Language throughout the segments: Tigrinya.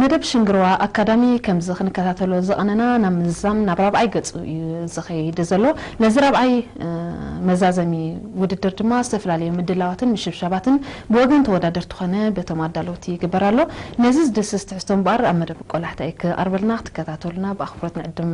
መደብ ሽንግርዋ ኣካዳሚ ከምዚ ክንከታተሎ ዝቐነና ናብ ምዝዛም ናብ ራብዓይ ገጹ እዩ ዝኸይድ ዘሎ። ነዚ ራብዓይ መዛዘሚ ውድድር ድማ ዝተፈላለዩ ምድላዋትን ምሽብሻባትን ብወገን ተወዳደርቲ ኮነ በቶም ኣዳለውቲ ይግበር ኣሎ። ነዚ ዝድህስስ ትሕዝቶ እምበኣር ኣብ መደብ ቆላሕታ እዩ ክቐርበልና። ክትከታተሉና ብኣኽብሮት ንዕድም።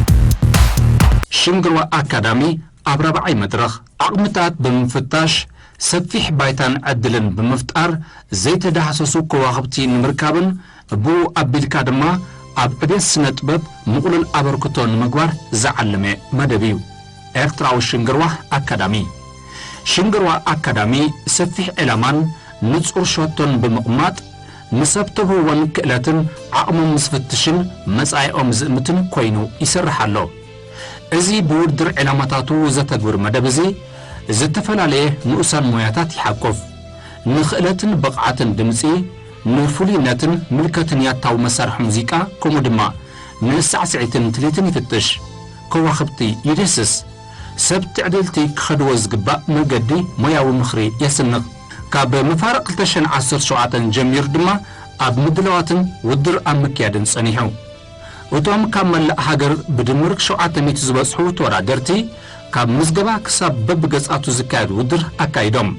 ሽንግርዋ ኣካዳሚ ኣብ ራብዓይ መድረኽ፣ ዓቕምታት ብምፍታሽ ሰፊሕ ባይታን ዕድልን ብምፍጣር ዘይተዳህሰሱ ከዋኽብቲ ንምርካብን ብኡ ኣቢልካ ድማ ኣብ ዕብየት ስነ-ጥበብ ምቕሉል ኣበርክቶ ንምግባር ዝዓለመ መደብ እዩ። ኤርትራዊ ሽንግርዋ ኣካዳሚ ሽንግርዋ ኣካዳሚ ሰፊሕ ዒላማን ንጹር ሸቶን ብምቕማጥ፣ ምስ ሰብ ተውህቦን ክእለትን ዓቕሞም ዝፍትሽን መጻኢኦም ዝእምትን ኮይኑ ይሰርሕ ኣሎ። እዚ ብውድድር ዕላማታቱ ዘተግብር መደብ እዚ፣ ዝተፈላለየ ንኡሳን ሞያታት ይሓቁፍ። ንክእለትን ብቕዓትን ድምጺ፣ ንፍሉይነትን ምልከትን ያታዊ መሳርሒ ሙዚቃ ከምኡ ድማ ንሳዕስዒትን ትልሂትን ይፍትሽ። ከዋኽብቲ ይድህስስ። ሰብ ትዕድልቲ ክኸድዎ ዝግባእ መገዲ ሞያዊ ምኽሪ የስንቕ። ካብ መፋርቕ ክልተ ሽሕን ዓሰርተ ሸውዓተን ጀሚሩ ድማ ኣብ ምድላዋትን ውድድር ኣብ ምክያድን ጸኒሑ። እቶም ካብ መላእ ሃገር ብድምር ሸውዓተ ሚእቲ ዝበጽሑ ተወዳደርቲ ካብ ምዝገባ ክሳብ በብገጻቱ ዝካየድ ውድድር ኣካይዶም።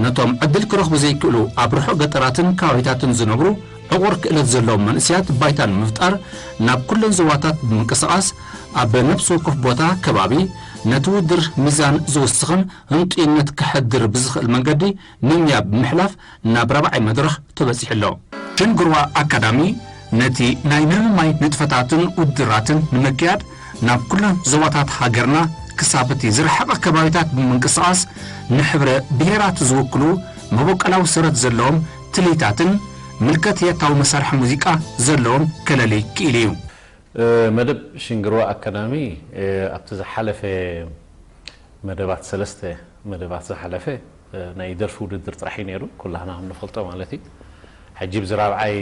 ነቶም ዕድል ክረኽቡ ዘይክእሉ ኣብ ርሑቕ ገጠራትን ከባቢታትን ዝነብሩ ዕቑር ክእለት ዘለዎም መንእሰያት ባይታ ንምፍጣር ናብ ኩለን ዞባታት ብምንቅስቓስ ኣብ ነብሲ ወከፍ ቦታ፣ ከባቢ፣ ነቲ ውድድር ሚዛን ዝውስኽን ህንጡይነት ከሕድር ብዝኽእል መንገዲ ምምያ ብምሕላፍ ናብ ራብዓይ መድረኽ ተበጺሑ ኣሎ። ሸንግርዋ ኣካዳሚ ነቲ ናይ ምምማይ ንጥፈታትን ውድድራትን ንምክያድ ናብ ኩለን ዞባታት ሃገርና ክሳብ እቲ ዝረሓቐ ከባቢታት ብምንቅስቓስ ንሕብረ ብሄራት ዝውክሉ መቦቀላዊ ሰረት ዘለዎም ትልሂታትን ምልከትያታዊ መሳርሒ ሙዚቃ ዘለዎም ከለሊ ክኢሉ እዩ። መደብ ሽንግርዋ ኣካዳሚ ኣብቲ ዝሓለፈ መደባት ሰለስተ መደባት ዝሓለፈ ናይ ደርፊ ውድድር ጥራሕ እዩ ነይሩ ኩላህና ከም ንፈልጦ ማለት እዩ ሕጂ ብዚ ራብዓይ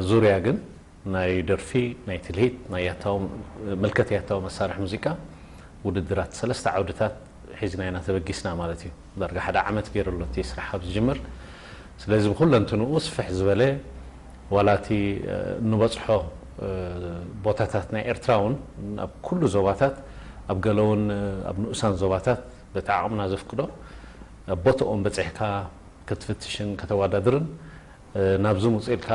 ዙርያ ግን ናይ ደርፊ ናይ ትልሂት ናይ ያታዊ ምልከት ያታዊ መሳርሒ ሙዚቃ ውድድራት ሰለስተ ዓውድታት ሒዝና ኢና ተበጊስና ማለት እዩ ዳርጋ ሓደ ዓመት ገይሩ ኣሎ እቲ ስራሕ ካብ ዝጅምር ስለዚ ብኩለንትንኡ ስፍሕ ዝበለ ዋላ እቲ እንበጽሖ ቦታታት ናይ ኤርትራ እውን ኣብ ኩሉ ዞባታት ኣብ ገለ እውን ኣብ ንኡሳን ዞባታት በቲ ዓቕምና ዘፍቅዶ ኣብ ቦትኦም በጺሕካ ክትፍትሽን ከተዋዳድርን ናብዚ ምጹ ኢልካ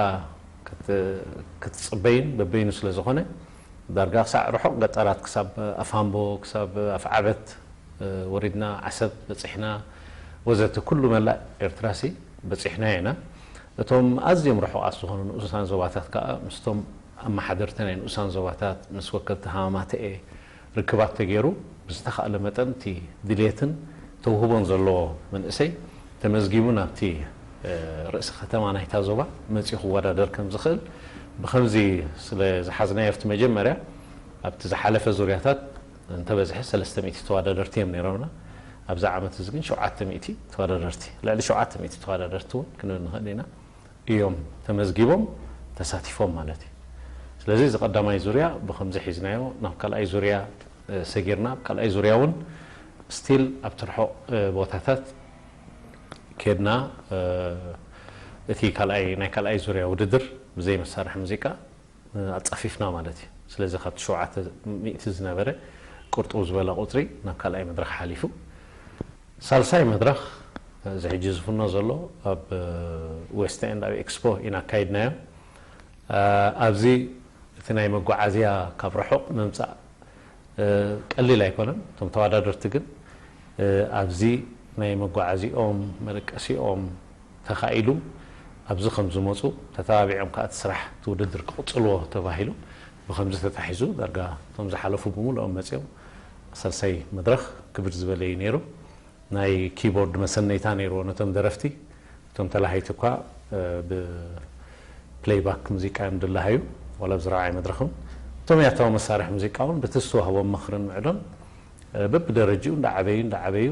ክትጽበይን በበይኑ ስለ ዝኾነ ዳርጋ ክሳዕ ርሑቕ ገጠራት ክሳብ ኣፋምቦ ክሳብ ኣፍዓበት ወሪድና ዓሰብ በጺሕና ወዘተ ኩሉ መላእ ኤርትራሲ በጺሕናዮ ኢና። እቶም ኣዝዮም ርሑቓት ዝኾኑ ንኡሳን ዞባታት ከኣ ምስቶም ኣመሓደርቲ ናይ ንኡሳን ዞባታት፣ ምስ ወከልቲ ሃማማተኤ ርክባት ተገይሩ ብዝተኻእለ መጠን እቲ ድሌትን ተውህቦን ዘለዎ መንእሰይ ተመዝጊቡ ናብቲ ርእሲ ከተማ ናይታ ዞባ መጺኡ ክወዳደር ከም ዝኽእል ብኸምዚ ስለ ዝሓዝናዮ ኣብቲ መጀመርያ ኣብቲ ዝሓለፈ ዙርያታት እንተበዝሐ ሰለስተ ሚእቲ ተዋዳደርቲ እዮም ነይሮምና። ኣብዚ ዓመት እዚ ግን ሸውዓተ ሚእቲ ተዋዳደርቲ፣ ልዕሊ ሸውዓተ ሚእቲ ተዋዳደርቲ እውን ክንብል ንኽእል ኢና፣ እዮም ተመዝጊቦም ተሳቲፎም ማለት እዩ። ስለዚ እዚ ቀዳማይ ዙርያ ብኸምዚ ሒዝናዮ ናብ ካልኣይ ዙርያ ሰጊርና፣ ኣብ ካልኣይ ዙርያ እውን ስቲል ኣብቲ ርሑቕ ቦታታት ኬድና እቲ ካልኣይ ናይ ካልኣይ ዙርያ ውድድር ብዘይ መሳርሒ ሙዚቃ፣ ኣጻፊፍና ማለት እዩ። ስለዚ ካብቲ ሸውዓተ ሚእቲ ዝነበረ ቅርጥው ዝበለ ቁጽሪ ናብ ካልኣይ መድረኽ ሓሊፉ። ሳልሳይ መድረኽ እዚ ሕጂ ዝፍኖ ዘሎ ኣብ ዌስት ኤንድ ኣብ ኤክስፖ ኢና ኣካይድናዮ። ኣብዚ እቲ ናይ መጓዓዝያ ካብ ርሑቕ ምምጻእ፣ ቀሊል ኣይኮነን እቶም ተዋዳደርቲ ግን ኣብዚ ናይ መጓዓዚኦም መደቀሲኦም ተኻኢሉ ኣብዚ ከምዝመፁ ተተባቢዖም ከዓ እቲ ስራሕ እቲ ውድድር ክቕፅልዎ ተባሂሉ ብኸምዚ ተታሒዙ ዳርጋ እቶም ዝሓለፉ ብሙሉኦም መፂኦም ሳልሳይ መድረኽ ክብድ ዝበለ እዩ ነይሩ ናይ ኪቦርድ መሰነይታ ነይርዎ ነቶም ደረፍቲ እቶም ተላሃይቲ እኳ ብፕለይባክ ሙዚቃ እዮም ድላሃዩ፣ ዋላ ኣብዚ ራብዓይ መድረኽም። እቶም ያታዊ መሳርሒ ሙዚቃ እውን በቲ ዝተዋህቦም ምኽርን ምዕዶን በብደረጅኡ እንዳዓበዩ እንዳዓበዩ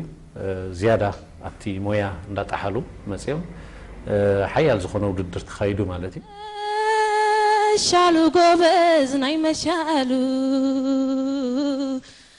ዝያዳ ኣብቲ ሞያ እንዳጠሓሉ መፂኦም ሓያል ዝኾነ ውድድር ተኻይዱ ማለት እዩ። መሻሉ ጎበዝ ናይ መሻሉ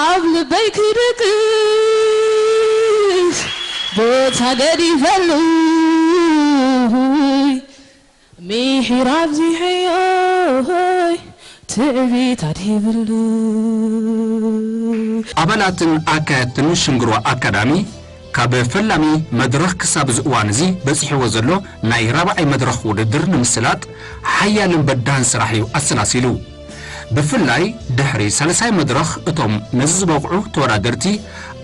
ኣብ ልበይ ክድቅስ ቦታ ገዲፈሉ ምሒር ኣብዚሐዮ ትዕቢት ኣድሂብሉ። ኣባላትን ኣካየድትን ሽንግሮ ኣካዳሚ ካብ ፈላሚ መድረኽ ክሳብ እዚ እዋን እዚ በጺሕዎ ዘሎ ናይ ራብዓይ መድረኽ ውድድር ንምስላጥ ሓያልን በዳህን ስራሕ እዩ ኣሰላሲሉ። ብፍላይ ድሕሪ ሳልሳይ መድረኽ እቶም ነዚ ዝበቕዑ ተወዳደርቲ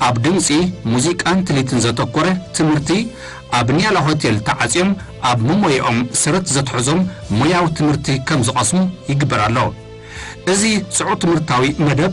ኣብ ድምጺ፣ ሙዚቃን ትልሂትን ዘተኮረ ትምህርቲ ኣብ ንያላ ሆቴል ተዓጽዮም ኣብ መሞያኦም ሰረት ዘትሐዞም ሞያዊ ትምህርቲ ከም ዝቐስሙ ይግበር ኣሎ። እዚ ጽዑቕ ትምህርታዊ መደብ፣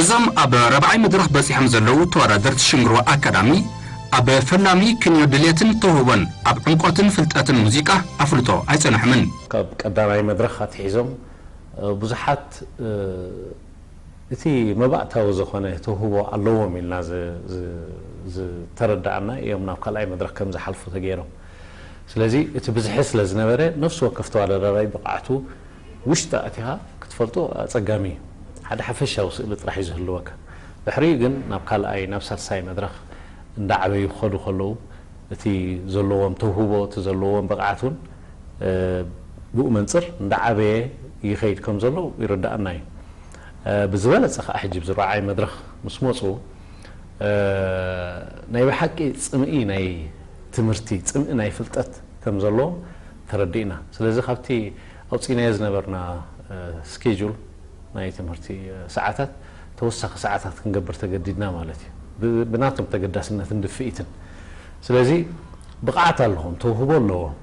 እዞም ኣብ ራብዓይ መድረኽ በጺሖም ዘለዉ ተወዳደርቲ ሽንግሮ ኣካዳሚ ኣብ ፈላሚ ክንዮ ድሌትን ተውህቦን ኣብ ዕምቆትን ፍልጠትን ሙዚቃ ኣፍልጦ ኣይጸንሑምን። ካብ ቀዳማይ መድረኽ ኣትሒዞም ብዙሓት እቲ መባእታዊ ዝኾነ ተውህቦ ኣለዎም ኢልና ዝተረዳኣና እዮም ናብ ካልኣይ መድረኽ ከም ዝሓልፉ ተገይሮም። ስለዚ እቲ ብዝሒ ስለ ዝነበረ ነፍሲ ወከፍ ተወዳዳራይ ብቕዓቱ ውሽጢ ኣእቲኻ ክትፈልጦ ኣጸጋሚ እዩ። ሓደ ሓፈሻዊ ስእሊ ጥራሕ እዩ ዝህልወካ። ድሕሪኡ ግን ናብ ካልኣይ ናብ ሳልሳይ መድረኽ እንዳዓበዩ ክኸዱ ከለዉ፣ እቲ ዘለዎም ተውህቦ እቲ ዘለዎም ብቕዓት እውን ብኡ መንፅር እንዳዓበየ ይኸይድ ከም ዘሎ ይርደኣና እዩ። ብዝበለፀ ከዓ ሕጂ ኣብዚ ራብዓይ መድረኽ ምስ መፁ ናይ ብሓቂ ፅምኢ ናይ ትምህርቲ ፅምኢ ናይ ፍልጠት ከም ዘለዎም ተረዲእና። ስለዚ ካብቲ ኣውፂእናዮ ዝነበርና ስኬጁል ናይ ትምህርቲ ሰዓታት ተወሳኺ ሰዓታት ክንገብር ተገዲድና ማለት እዩ ብናቶም ተገዳስነትን ድፍኢትን ስለዚ ብቕዓት ኣለዎም ተውህቦ ኣለዎም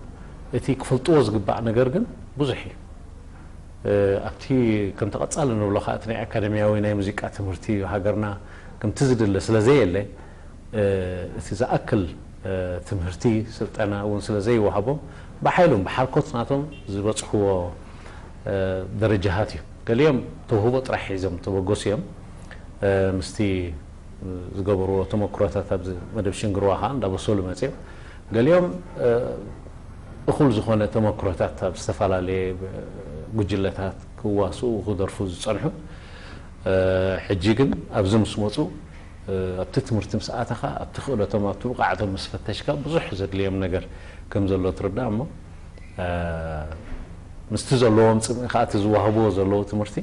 እቲ ክፈልጥዎ ዝግባእ ነገር ግን ብዙሕ እዩ ኣብቲ ከምቲ ቀጻሊ ንብሎ ከኣ እቲ ናይ ኣካደምያዊ ናይ ሙዚቃ ትምህርቲ ኣብ ሃገርና ከምቲ ዝድለ ስለ ዘየለ እቲ ዝኣክል ትምህርቲ ስልጠና እውን ስለ ዘይወሃቦም ብሓይሎም ብሓልኮት ናቶም ዝበጽሕዎ ደረጃሃት እዩ ገሊኦም ተውህቦ ጥራሕ ሒዞም ተበገሱ እዮም ምስቲ ዝገበርዎ ተመክሮታት ኣብዚ መደብ ሽንግርዋ ከዓ እንዳበሰሉ መፅዮም ገሊኦም እኹል ዝኾነ ተመክሮታት ኣብ ዝተፈላለየ ጉጅለታት ክዋስኡ ክደርፉ ዝፀንሑ ሕጂ ግን ኣብዚ ምስ መፁ ኣብቲ ትምህርቲ ምስ ኣተኻ ኣብቲ ክእለቶም ኣብቲ ብቕዓቶም ምስ ፈተሽካ ብዙሕ ዘድልዮም ነገር ከም ዘሎ ትርዳእ እሞ ምስቲ ዘለዎም ጽምኢ ከኣ እቲ ዝዋህብዎ ዘለዉ ትምህርቲ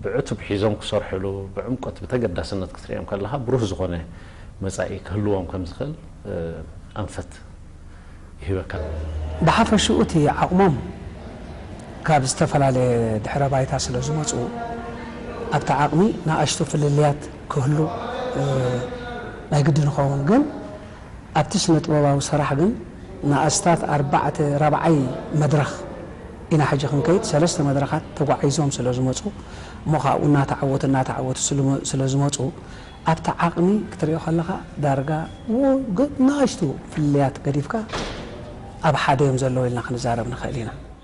ብዕቱብ ሒዞም ክሰርሕሉ ብዕምቆት ብተገዳስነት ክትርእዮም ከለኻ ብሩህ ዝኾነ መጻኢ ክህልዎም ከም ዝኽእል ኣንፈት ይህበካ። ብሓፈሽኡ እቲ ዓቕሞም ካብ ዝተፈላለየ ድሕረ ባይታ ስለ ዝመጹ ኣብቲ ዓቕሚ ንኣሽቱ ፍልልያት ክህሉ ናይ ግድን ይኸውን ግን ኣብቲ ስነ ጥበባዊ ሰራሕ ግን ንኣስታት ኣርባዕተ ራብዓይ መድረኽ ኢና ሕጂ ክንከይድ ሰለስተ መድረኻት ተጓዒዞም ስለ ዝመጹ እሞ ካብኡ እናተዓወቱ እናተዓወቱ ስለ ዝመጹ ኣብቲ ዓቕሚ ክትሪኦ ከለኻ ዳርጋ ውግእ ናኣሽቱ ፍልልያት ገዲፍካ ኣብ ሓደ እዮም ዘለዉ ኢልና ክንዛረብ ንኽእል ኢና።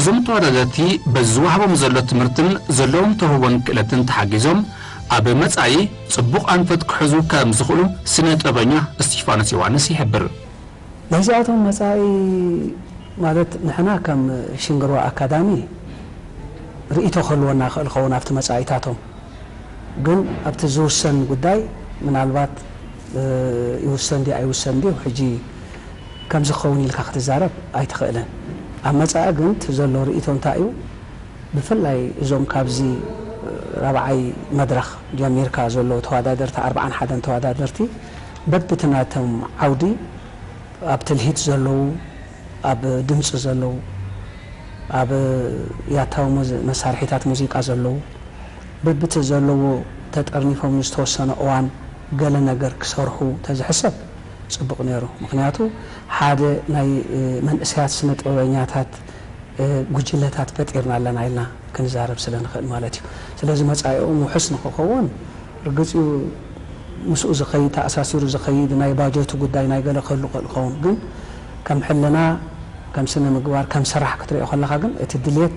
እዞም ተወዳደርቲ በዚ ዝወሃቦም ዘሎ ትምህርትን ዘለዎም ተውህቦን ክእለትን ተሓጊዞም ኣብ መፃኢ ፅቡቕ ኣንፈት ክሕዙ ከም ዝኽእሉ ስነ ጥበበኛ እስቲፋኖስ ዮውሃንስ ይሕብር። ናይዚኣቶም መፃኢ ማለት ንሕና ከም ሽንግርዋ ኣካዳሚ ርኢቶ ክህልወና ይኽእል ይኸውን ኣብቲ መፃኢታቶም ግን ኣብቲ ዝውሰን ጉዳይ ምናልባት ይውሰን ድዩ ኣይውሰን ድዩ ሕጂ ከምዚ ክኸውን ኢልካ ክትዛረብ ኣይትኽእልን። ኣብ መጻኢ ግን እቲ ዘሎ ርእይቶ እንታይ እዩ ብፍላይ እዞም ካብዚ ራብዓይ መድረኽ ጀሚርካ ዘለዉ ተወዳደርቲ ኣርብዓን ሓደን ተወዳደርቲ በብቲ ናቶም ዓውዲ ኣብ ትልሂት ዘለዉ ኣብ ድምጺ ዘለዉ ኣብ ያታዊ መሳርሒታት ሙዚቃ ዘለዉ በብቲ ዘለዎ ተጠርኒፎም ንዝተወሰነ እዋን ገለ ነገር ክሰርሑ ተዝሕሰብ ጽቡቅ ኔሩ ምክንያቱ ሓደ ናይ መንእሰያት ስነ ጥበበኛታት ጉጅለታት ፈጢርና ኣለና ኢልና ክንዛረብ ስለ ንክእል ማለት እዩ ስለዚ መጻኢኦም ውሑስ ንክከውን ርግጽ እዩ ምስኡ ዝከይድ ተኣሳሲሩ ዝከይድ ናይ ባጀቱ ጉዳይ ናይ ገለ ክህሉ ክእል ክከውን ግን ከም ሕልና ከም ስነ ምግባር ከም ስራሕ ክትሪኦ ከለካ ግን እቲ ድሌት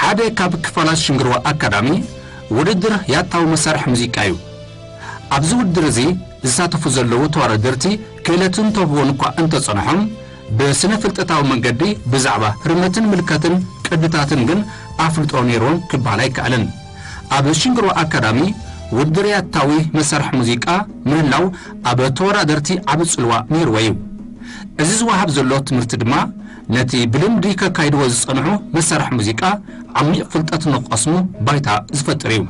ሓደ ካብ ክፋላት ሽንግርዋ ኣካዳሚ ውድድር ያታዊ መሳርሒ ሙዚቃ እዩ። ኣብዚ ውድድር እዚ ዝሳተፉ ዘለዉ ተዋዳደርቲ ክእለትን ተውህቦን እኳ እንተጸንሖም፣ ብስነ-ፍልጠታዊ መንገዲ ብዛዕባ ህርመትን ምልከትን ቅድታትን ግን ኣፍልጦ ነይርዎም ክበሃል ኣይከኣልን። ኣብ ሽንግርዋ ኣካዳሚ ውድድር ያታዊ መሳርሒ ሙዚቃ ምህላው ኣብ ተወዳደርቲ ዓቢ ጽልዋ ነይርዎ እዩ። እዚ ዝወሃብ ዘሎ ትምህርቲ ድማ፣ ነቲ ብልምዲ ከካይድዎ ዝጸንሑ መሳርሒ ሙዚቃ ዓሚቕ ፍልጠት ንኽቐስሙ ባይታ ዝፈጥር እዩ።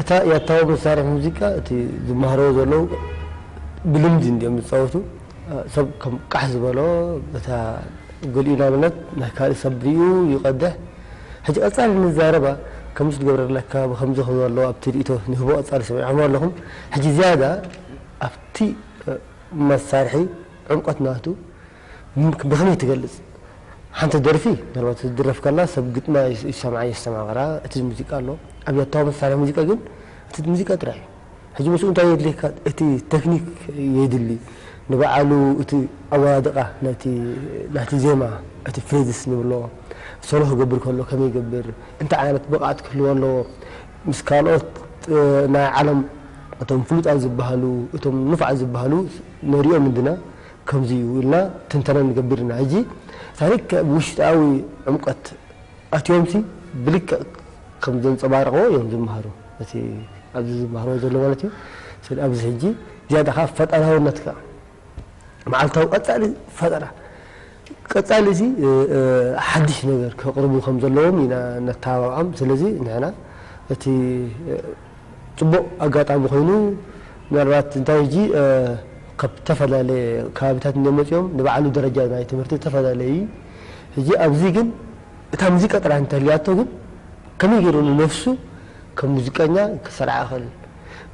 እታ ያታዊ መሳርሒ ሙዚቃ እቲ ዝማሃርዎ ዘለዉ ብልምዲ እንድዮም ዝጻወቱ ሰብ ከም ቃሕ ዝበሎ በታ ገሊኡ ንኣብነት ናይ ካልእ ሰብ ሪኡ ይቀድሕ ሕጂ ቀጻሊ ንዛረባ ከምዚ ክትገብረልና ከባቢ ከምዚ ክብሉ ኣለዉ ኣብቲ ሪኢቶ ንህቦ ቀጻሊ ሰሚዕክሞ ኣለኹም ሕጂ ዝያዳ ኣብቲ መሳርሒ ዕምቆት ናቱ ብከመይ ትገልጽ ሓንቲ ደርፊ ምናልባት ክትድረፍ ከላ ሰብ ግጥማ ይሰምዓ የስተማቅራ እቲ ሙዚቃ ኣሎ ኣብያታዊ መሳርሒ ሙዚቃ ግን እቲ ሙዚቃ ጥራይ እዩ። ሕጂ ምስኡ እንታይ የድልየካ እቲ ተክኒክ የድሊ ንባዓሉ እቲ ኣወዳድቃ ናይቲ ናይቲ ዜማ እቲ ፍሬዝስ ንብሎ ሶሎ ክገብር ከሎ ከመይ ይገብር እንታይ ዓይነት ብቅዓት ክህልዎ ኣለዎ ምስ ካልኦት ናይ ዓለም እቶም ፍሉጣት ዝባሃሉ እቶም ንፉዓት ዝባሃሉ ንሪኦም እንድና ከምዚ እዩ ኢልና ትንተና ንገብር እና ሕጂ ታሪክ ብውሽጣዊ ዕምቆት ኣትዮምሲ ብልክዕ ከም ዘንጸባረቕዎ እዮም ዝመሃሩ እቲ ኣብዚ ዝመሃርዎ ዘለዉ ማለት እዩ ስለ ኣብዚ ሕጂ ዝያዳ ከኣ ፈጠራውነት ከኣ መዓልታዊ ቀጻሊ ፈጠራ ቀጻሊ እዚ ሓድሽ ነገር ከቕርቡ ከም ዘለዎም ኢና ነተባብዖም ስለዚ ንሕና እቲ ጽቡቕ ኣጋጣሚ ኮይኑ ምናልባት እንታይ ሕጂ ካብ እተፈላለየ ከባቢታት እንድዮም መጺኦም ንባዕሉ ደረጃ ናይ ትምህርቲ እተፈላለየ እዪ ሕጂ ኣብዚ ግን እታ ሙዚቃ ጥራሕ እንተልያቶ ግን ከመይ ጌሩ ንነፍሱ ከም ሙዚቀኛ ክሰርዓ ይኽእል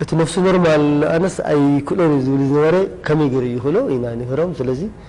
እቲ ነፍሱ ኖርማል ኣነስ ኣይክእሎን እየ ዝብል ዝነበረ ከመይ ጌሩ ይኽእሎ ኢና ንምህሮም ስለዚ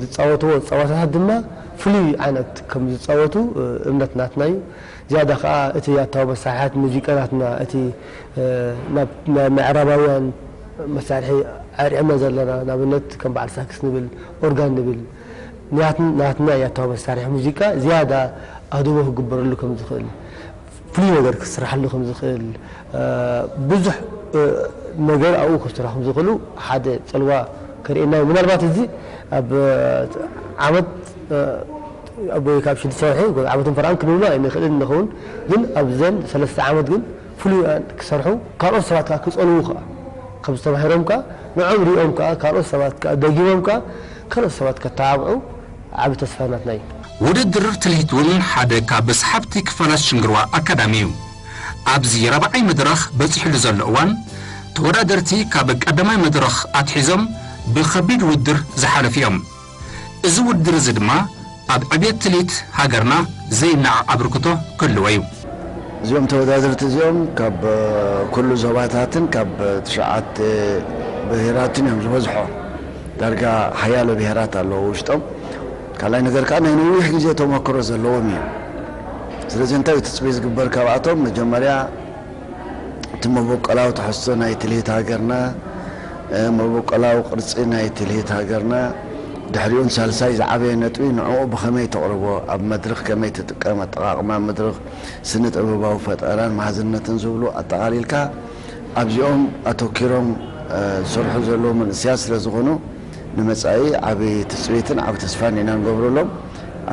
ዝጻወትዎ ጸወታታት ድማ ፍሉይ ዓይነት ከም ዝጻወቱ እምነት ናትና እዩ። ዝያዳ ከኣ እቲ ያታዊ መሳርሕታት ሙዚቃ ናትና እቲ ናብ ናይ ምዕራባውያን መሳርሒ ኣርዒምና ዘለና ንኣብነት ከም በዓል ሳክስ ንብል ኦርጋን ንብል ንያት ናትና ያታዊ መሳርሒ ሙዚቃ ዝያዳ ኣድህቦ ክግበረሉ ከም ዝኽእል ፍሉይ ነገር ክስራሓሉ ከም ዝኽእል ብዙሕ ነገር ኣብኡ ክስርሑ ከም ዝኽእሉ ሓደ ጽልዋ ከርእየና እዩ። ምናልባት እዚ ኣብ ዓመት ወይ ከኣ ኣብ ሽዱሽተ ወርሒ ወይ ዓመትን ፈረቓን ክንብሎ ኣይንኽእልን ንኸውን ግን ኣብዘን ሰለስተ ዓመት ግን ፍሉይ ክሰርሑ ካልኦት ሰባት ከኣ ክጸልዉ ከኣ ከምዚ ተማሂሮም ከኣ ንዕኦም ሪኦም ከኣ ካልኦት ሰባት ከኣ ደጊሞም ከኣ ካልኦት ሰባት ከተባብዑ ዓቢ ተስፋ ናትና እዩ። ውድድር ትልሂት እውን ሓደ ካብ ሰሓብቲ ክፋላት ሽንግርዋ ኣካዳሚ እዩ። ኣብዚ ራብዓይ መድረኽ በጺሑሉ ዘሎ እዋን፣ ተወዳደርቲ ካብ ቀዳማይ መድረኽ ኣትሒዞም ብከቢድ ውድድር ዝሓለፉ እዮም። እዚ ውድድር እዚ ድማ ኣብ ዕብየት ትልሂት ሃገርና ዘይነዓቕ ኣበርክቶ ክህልዎ እዩ። እዚኦም ተወዳደርቲ እዚኦም ካብ ኩሉ ዞባታትን ካብ ትሽዓተ ብሄራትን እዮም ዝበዝሑ። ዳርጋ ሓያሎ ብሄራት ኣለዎ ውሽጦም። ካልኣይ ነገር ከኣ ናይ ነዊሕ ግዜ ተመክሮ ዘለዎም ኢዮም። ስለዚ እንታይ ኢዩ ትጽቢት ዝግበር ካብኣቶም? መጀመርያ እቲ መበቆላዊ ትሕዝቶ ናይ ትልሂት ሃገርና፣ መበቆላዊ ቅርጺ ናይ ትልሂት ሃገርና፣ ድሕሪኡን ሳልሳይ ዝዓበየ ነጥቢ ንዕኡ ብኸመይ ተቕርቦ፣ ኣብ መድርኽ ከመይ ትጥቀም፣ ኣጠቓቕማ መድርኽ፣ ስነ-ጥበባዊ ፈጠራን መሃዝነትን ዝብሉ ኣጠቓሊልካ፣ ኣብዚኦም ኣተኲሮም ዝሰርሑ ዘለዉ መንእሰያት ስለ ዝኾኑ፣ ንመጻኢ ዓቢ ትጽቢትን ዓቢ ተስፋን ኢና ንገብረሎም።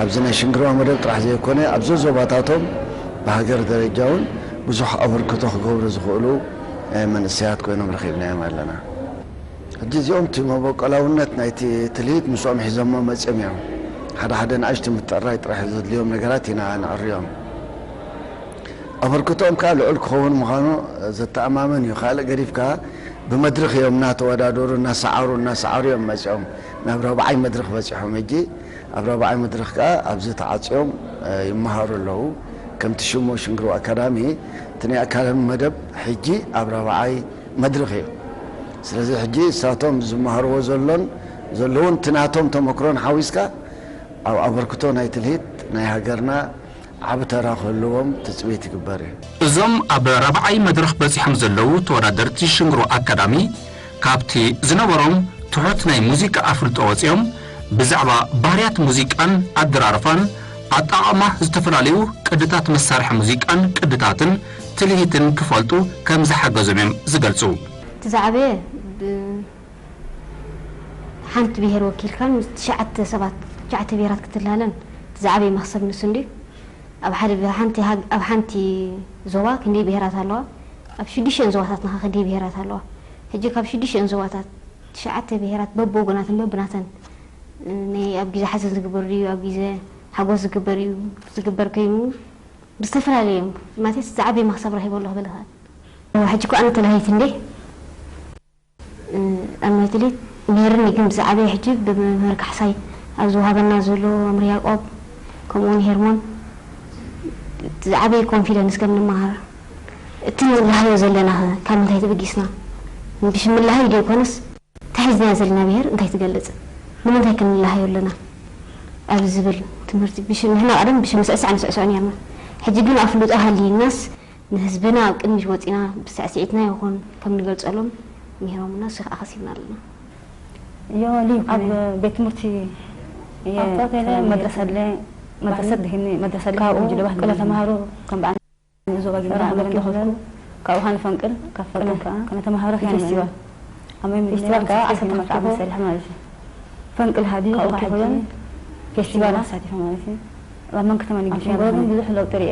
ኣብዚ ናይ ሽንግርዋ መደብ ጥራሕ ዘይኮነ፣ ኣብ ዘዞባታቶም ብሃገር ደረጃ'ውን ብዙሕ ኣበርክቶ ክገብሩ ዝኽእሉ መንእሰያት ኮይኖም ረኺብናዮም ኣለና። ሕጂ እዚኦም እቲ መበቆላውነት ናይቲ ትልሂት ምስኦም ሒዞሞ መጺኦም እዮም። ሓደ ሓደ ንኣሽቱ ምትዕርራይ ጥራሕ ዘድልዮም ነገራት ኢና ነዕርዮም። ኣበርክቶኦም ከኣ ልዑል ክኸውን ምዃኑ ዘተኣማምን እዩ። ካልእ ገዲፍካ ብመድርኽ እዮም እናተወዳደሩ እናሰዓሩ እናሰዓሩ እዮም መጺኦም ናብ ራብዓይ መድርኽ በጺሖም። ሕጂ ኣብ ራብዓይ መድርኽ ከኣ ኣብዚ ተዓጽዮም ይመሃሩ ኣለዉ። ከምቲ ሽሙ ሽንግርዋ ኣካዳሚ እቲ ናይ ኣካዳሚ መደብ ሕጂ ኣብ ራብዓይ መድርኽ እዩ። ስለዚ ሕጂ እሳቶም ዝመሃርዎ ዘሎን ዘለዉን እቲ ናቶም ተመክሮን ሓዊስካ ኣብ ኣበርክቶ ናይ ትልሂት ናይ ሃገርና ዓቢ ተራ ክህልዎም ትጽቢት ይግበር እዩ። እዞም ኣብ ራብዓይ መድረኽ በጺሖም ዘለዉ ተወዳደርቲ ሽንግሮ ኣካዳሚ ካብቲ ዝነበሮም ትሑት ናይ ሙዚቃ ኣፍልጦ ወጺኦም ብዛዕባ ባህርያት ሙዚቃን ኣደራርፋን ኣጠቓቕማ ዝተፈላለዩ ቅድታት መሳርሒ ሙዚቃን ቅድታትን ትልሂትን ክፈልጡ ከምዝሓገዞም እዮም ዝገልጹ። እቲ ዝዓበየ ብ። ሓንቲ ብሄር ወኪልካ ምስ ትሽዓተ ሰባት ትሽዓተ ብሄራት ክትላለን እቲ ዝዓበየ መኽሰብ ንሱ እንድዩ። ኣብ ሓደ ኣብ ሓንቲ ኣብ ሓንቲ ዞባ ክንደይ ብሄራት ኣለዋ? ኣብ ሽዱሽተን ዞባታትና ከ ክንደይ ብሄራት ኣለዋ? ሕጂ ካብ ሽዱሽተን ዞባታት ትሽዓተ ብሄራት በብወገናተን በብናተን ናይ ኣብ ግዜ ሓዘን ዝግበር ድዩ ኣብ ግዜ ሓጎስ ዝግበር እዩ ዝግበር ኮይኑ ብዝተፈላለየ እዮም ማለትስ ዝዓበየ መኽሰብ ረኺበ ኣለኹ ክብል ይኽእል። ሕጂ እኮ ኣነ ተላሃይት እንድየ። ኣብ መትሊት ሜህርኒ ግን ብዝዓበየ ሕጂ ብመምህር ካሕሳይ ኣብ ዝወሃበና ዘሎ መምህር ያቆብ ከምኡ ውን ሄርሞን ብ ዝዓበየ ኮንፊደንስ ከም ንመሃር እቲ ንላሃዮ ዘለና ከ ካብ ምንታይ ተበጊስና ብሽም ምልሃይ ደይኮነስ እታ ሒዝናያ ዘለና ብሄር እንታይ ትገልጽ ንምንታይ ከ ንላሃዮ ኣለና ኣብ ዝብል ትምህርቲ ብሽም ንሕና ቀደም ብሽም ምስዕሳዕ ንስዕስዖ ኔርና ሕጂ ግን ኣፍልጦ ሃልይናስ ንህዝብና ኣብ ቅድሚት ወጺና ብስዕሲዒትና ይኹን ከም ንገልጸሎም ሚሂሮሙና ሽኽ ኣኸሲብና ኣለና። ዮሊ ኣብ ቤት ትምህርቲ እየ ከይደ መድረሰ ኣለ መድረሰት ድህኒ መድረሰ ኣለ ካብኡ ቅለ ተማሃሩ ከም በዓል ንእዞ ባጊ ምራ ኣመረ እንደኸፍኩ ካብኡ ኻን ፈንቅል ካብ ፈንቅል ከኣ ከነ ተማሃረ ኸነ ፌስቲቫል ኣመይ ምድነ ፌስቲቫል ከኣ ኣሰተ መርዓብ መሰልሕ ማለት እዩ ፈንቅል ሃዲ ካብኡ ኪኹለን ፌስቲቫል ኣሳቲፈ ማለት እዩ ኣብ መንክተማ ንግዲ ብዙሕ ለውጢ ርኤ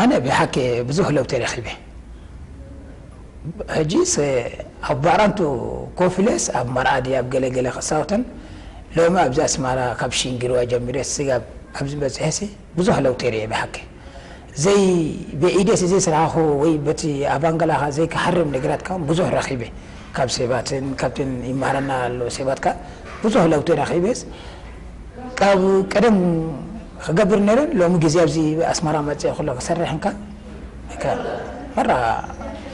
ኣነ ብሓቂ ብዙሕ ለውጢ ረኺበ ሕጂስ ኣብ ባራንቱ ኮፍ ኢለስ ኣብ መርዓ ድየ ኣብ ገለ ገለ ክጻወትን ሎሚ ኣብዚ ኣስመራ ካብ ሺንግርዋ ጀሚረ ስጋብ ኣብዚ በጺሐሲ ብዙሕ ለውጢ ሪኤ ብሓቂ ዘይ ብኢደስ ዘይስራሕኩ ወይ በቲ ኣባንገላኻ ዘይክሓርም ነገራት ከኣ ብዙሕ ረኺበ ካብ ሴባትን ካብትን ይማሃረና ኣሎ ሴባት ከኣ ብዙሕ ለውጢ ረኪበስ ካብ ቀደም ክገብር ነይረ ሎሚ ግዜ ኣብዚ ኣስመራ መጽየ ኩሎ ክሰርሕ እንካ ከ መራ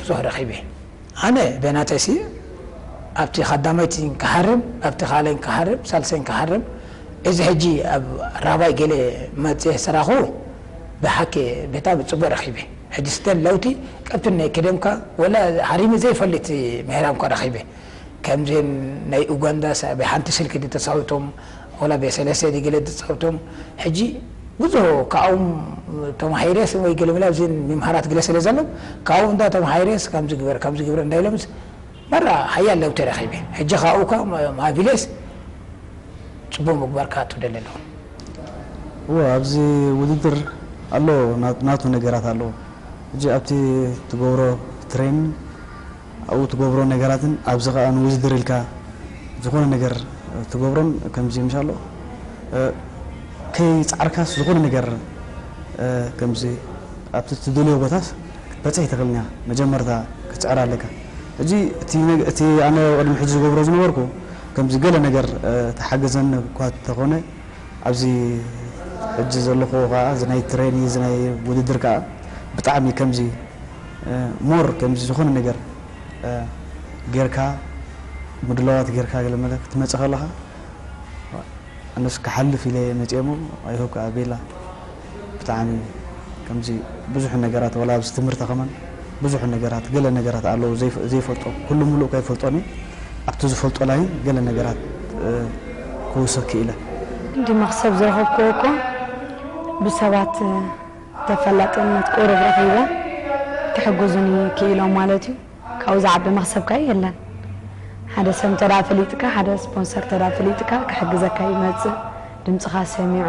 ብዙሕ ረኪበ ኣነ በናተይ ሲ ኣብቲ ካዳማይቲ ክሃርም ኣብቲ ካልኣይ ክሃርም ሳልሰይ ክሃርም እዚ ሕጂ ኣብ ራባይ ገለ መጽየ ስራኩ ብሓቂ ብጣሚ ጽቡቅ ረኪበ። ሕጂ ስተን ለውቲ ቀብትነይ ክደምካ ወላ ሃሪመ ዘይፈልጥ ምህራም እኳ ረኺበ ከምዘን ናይ ኡጋንዳ ሰ ብ ሓንቲ ስልኪ ድ ተጻውቶም ወላ ብ ሰለስተ ድ ገለ ድጻውቶም ሕጂ ብዙሆ ካብኦም ተማሂረስ ወይ ገለ ምላ ኣብዘን ምምሃራት ግለ ሰለ ዘሎም ካብኦም እንዳ ተማሂረስ ከምዚ ግበር ከምዚ ግብረ እንዳኢሎምስ መራ ሓያል ለውጢ ረኺበ። ሕጂ ከኣ ኡካ ማቪሌስ ጽቡቕ ምግባር ከኣ ትደሊ ኣለኹ። እወ ኣብዚ ውድድር ኣሎ ናቱ ነገራት ኣሎ ሕጂ ኣብቲ ትገብሮ ትሬንን ኣብኡ ትገብሮ ነገራትን ኣብዚ ከኣ ንውድድር ኢልካ ዝኾነ ነገር ትገብሮን ከምዚ ምሽ ኣሎ ከይጻዕርካስ ዝኾነ ነገር ከምዚ ኣብቲ ትደልዮ ቦታስ ክትበጽሕ ኣይትኽእልን ኢኻ መጀመርታ ክትጽዕር ኣለካ። ሕጂ እቲ ኣነ ቅድሚ ሕጂ ዝገብሮ ዝነበርኩ ከምዚ ገለ ነገር ተሓገዘኒ እኳ እንተኾነ ኣብዚ ሕጂ ዘለኹዎ ከኣ እዚ ናይ ትሬኒ እዚ ናይ ውድድር ከኣ ብጣዕሚ ከምዚ ሞር ከምዚ ዝኾነ ነገር ጌርካ ምድላዋት ጌርካ ገለ መለ ክትመጽእ ከለኻ ኣነስ ክሓልፍ ኢለ እየ መጽኤ እሞ ኣይ ሆፕ ከኣ ቤላ ብታዕሚ ከምዚ ብዙሕ ነገራት ዋላ ኣብዚ ትምህርቲ ከማን ብዙሕ ነገራት ገለ ነገራት ኣለዉ ዘይፈልጦ ኩሉ ሙሉእ ከይፈልጦን እየ ኣብቲ ዝፈልጦ ላይን ገለ ነገራት ክውስኽ ክኢለ። ክንዲ መኽሰብ ዝረኸብኩዎ እኮ ብሰባት ተፈላጥነት ቁሩብ ረኺበ ክሕግዙኒ ክኢሎም ማለት እዩ። ካብኡ ዝዓቢ መኽሰብ ከ የለን። ሓደ ሰብ እንተ ፈሊጥካ፣ ሓደ ስፖንሰር እንተ ፈሊጥካ ክሕግዘካ ይመጽእ፣ ድምጽኻ ሰሚዑ።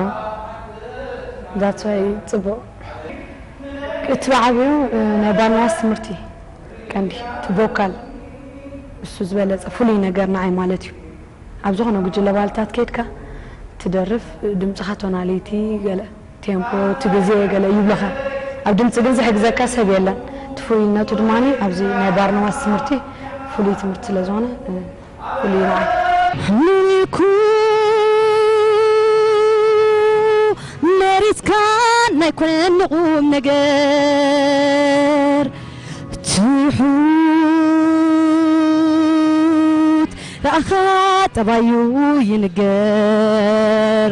That's why ጽቡቕ። እቲ ብዓቢኡ ናይ ባንያስ ትምህርቲ ቀንዲ፣ እቲ ቮካል እሱ ዝበለጸ ፍሉይ ነገር ንዓይ ማለት እዩ። ኣብ ዝኾነ ጉጅለ ባህልታት ከይድካ ትደርፍ፣ ድምጽኻ ቶናሊቲ ገለ። ቴምፖ እቲ ግዜ ገለ ይብልኻ ኣብ ድምጺ ግን ዝሕግዘካ ሰብ የለን እቲ ፍሉይነቱ ድማ ኣብዚ ናይ ባርኖማስ ትምህርቲ ፍሉይ ትምህርቲ ስለ ዝኾነ ፍሉይ እዩ ንዓይ። ምልኩ መሪጽካን ናይ ኮነን ንቁም ነገር ትሑት ራኣኻ ጠባዩ ይንገር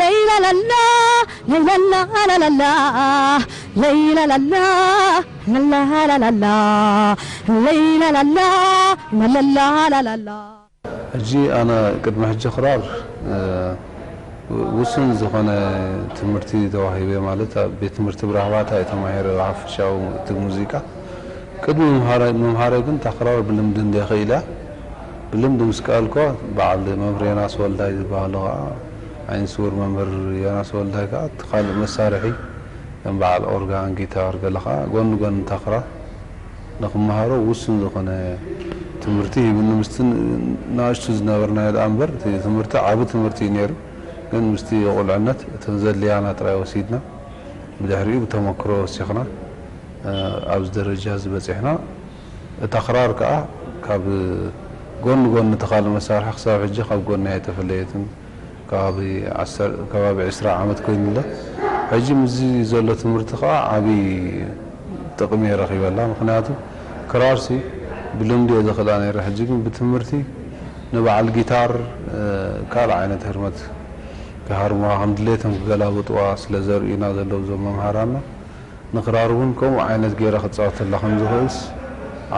ለይላላላ ለይላላ ኣላላላ ለይላላላ ላላላላ ለይላላላ ላላላላ። ሕጂ ኣነ ቅድሚ ሕጂ ክራር ውሱን ዝኮነ ትምህርቲ ተዋሂበ ማለት ኣብ ቤት ትምህርቲ ብራህባታ እየ ተማሂረ ብሓፈሻዊ እቲ ሙዚቃ ቅድሚ ምምሃረይ ግን እታ ክራር ብልምዲ እንድየ ክኢለያ ብልምዲ ምስ ከኣልኩዋ በዓል መምህር ዮናስ ወልዳይ ዝበሃሉ ከኣ ዓይነስዉር መምህር ዮናስ ወልዳይ ከኣ እቲ ካልእ መሳርሒ ከም በዓል ኦርጋን፣ ጊታር፣ ገለ ከኣ ጎኒ ጎኒ ታኽራ ንክመሃሮ ውሱን ዝኾነ ትምህርቲ ሂቡኒ። ምስቲ ናእሽቱ ዝነበርናዮ ደኣ እምበር እቲ ትምህርቲ ዓቢ ትምህርቲ እዩ ነይሩ። ግን ምስቲ ቁልዕነት እተን ዘድልያና ጥራይ ወሲድና ብድሕሪኡ ብተመክሮ ወሲኽና ኣብዚ ደረጃ እዚ በጺሕና። እታ ክራር ከኣ ካብ ጎኒ ጎኒ እቲ ካልእ መሳርሒ ክሳብ ሕጂ ካብ ጎኒ ኣይተፈለየትን። ከባቢ ዓሰርተ ከባቢ ዕስራ ዓመት ኮይኑ ኣሎ። ሕጂ ምስዚ ዘሎ ትምህርቲ ከኣ ዓቢ ጥቅሚ እየ ረኺበላ። ምኽንያቱ ክራርሲ ብልምዲ እየ ዘኽእላ ነይረ ሕጂ ግን ብትምህርቲ ንበዓል ጊታር ካልእ ዓይነት ህርመት ክሃርሙዋ ከም ድሌቶም ክገላብጡዋ ስለ ዘርእዩና ዘለዉ እዞም መምሃራንና ንክራር ውን ከምኡ ዓይነት ጌረ ክጻወተላ ከም ዝኽእልስ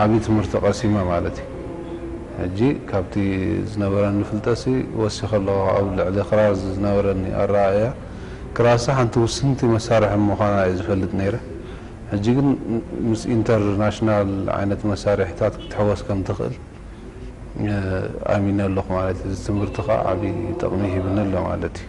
ዓቢ ትምህርቲ ቀሲመ ማለት እዩ። ሕጂ ካብቲ ዝነበረኒ ፍልጠትሲ ወሲኸ ኣለኹ ኣብ ልዕሊ ክራር ዝነበረኒ ኣረኣእያ። ክራርሲ ሓንቲ ውስንቲ መሳርሒ ምዃና እየ ዝፈልጥ ነይረ። ሕጂ ግን ምስ ኢንተር ናሽናል ዓይነት መሳርሒታት ክትሕወስ ከም ትኽእል ኣሚነ ኣለኹ ማለት እዩ። እዚ ትምህርቲ ከኣ ዓቢ ጠቕሚ ሂብኒ ኣሎ ማለት እዩ።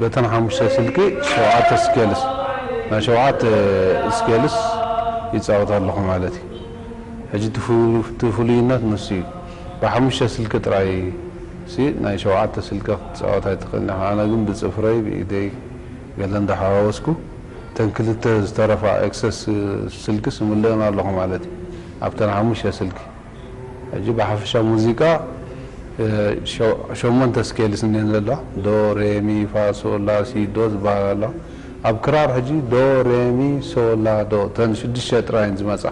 በተን ሓሙሽተ ስልኪ ሸውዓተ ስኬልስ ናይ ሸውዓተ ስኬልስ ይጻወት ኣለኹ ማለት እዩ ሕጂ እቲ ፍሉይነት ንሱ እዩ ብሓሙሽተ ስልኪ ጥራይ ሲ ናይ ሸውዓተ ስልኪ ክትጻወት ኣይትኽእልን ኢኻ ኣነ ግን ብጽፍረይ ብኢደይ ገለ እንዳሓዋወስኩ እተን ክልተ ዝተረፋ ኤክሰስ ስልኪስ እምልእን ኣለኹ ማለት እዩ ኣብተን ሓሙሽተ ስልኪ ሕጂ ብሓፈሻ ሙዚቃ ሸሞንተ ስኬልስ እንየን ዘለዋ ዶ ሬ ሚ ፋ ሶ ላ ሲ ዶ ዝበሃላ ኣለዋ ኣብ ክራር ሕጂ ዶ ሬ ሚ ሶ ላ ዶ እተን ሽዱሽተ ጥራይ እየን ዝመጻ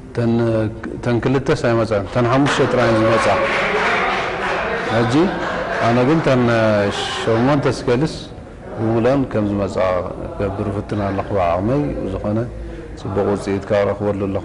እተን እተን ክልተስ ኣይመጽኣን እተን ሓሙሽተ ጥራይ እየን ዝመጻ ሕጂ ኣነ ግን እተን ሸሞንተ ስኬልስ ብምሉኣን ከም ዝመጻ ክገብር እፍትን ኣለኹ ብዓቕመይ ብዝኾነ ጽቡቕ ውጽኢት ከኣ እረኽበሉ ኣለኹ።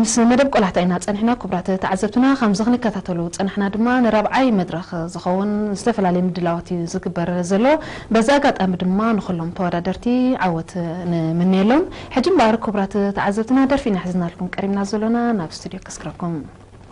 ምስ መደብ ቆላሕታ ኢና ጸኒሕና ክቡራት ተዓዘብትና ከምዚ ክንከታተሉ ዝጸናሕና ድማ ንራብዓይ መድረኽ ዝኸውን ዝተፈላለዩ ምድላዋት እዩ ዝግበር ዘሎ በዚ ኣጋጣሚ ድማ ንኹሎም ተወዳደርቲ ዓወት ንምንየሎም ሕጂ እምበኣር ክቡራት ተዓዘብትና ደርፊ ኢና ሒዝናልኩም ቀሪብና ዘሎና ናብ ስቱድዮ ከስክረኩም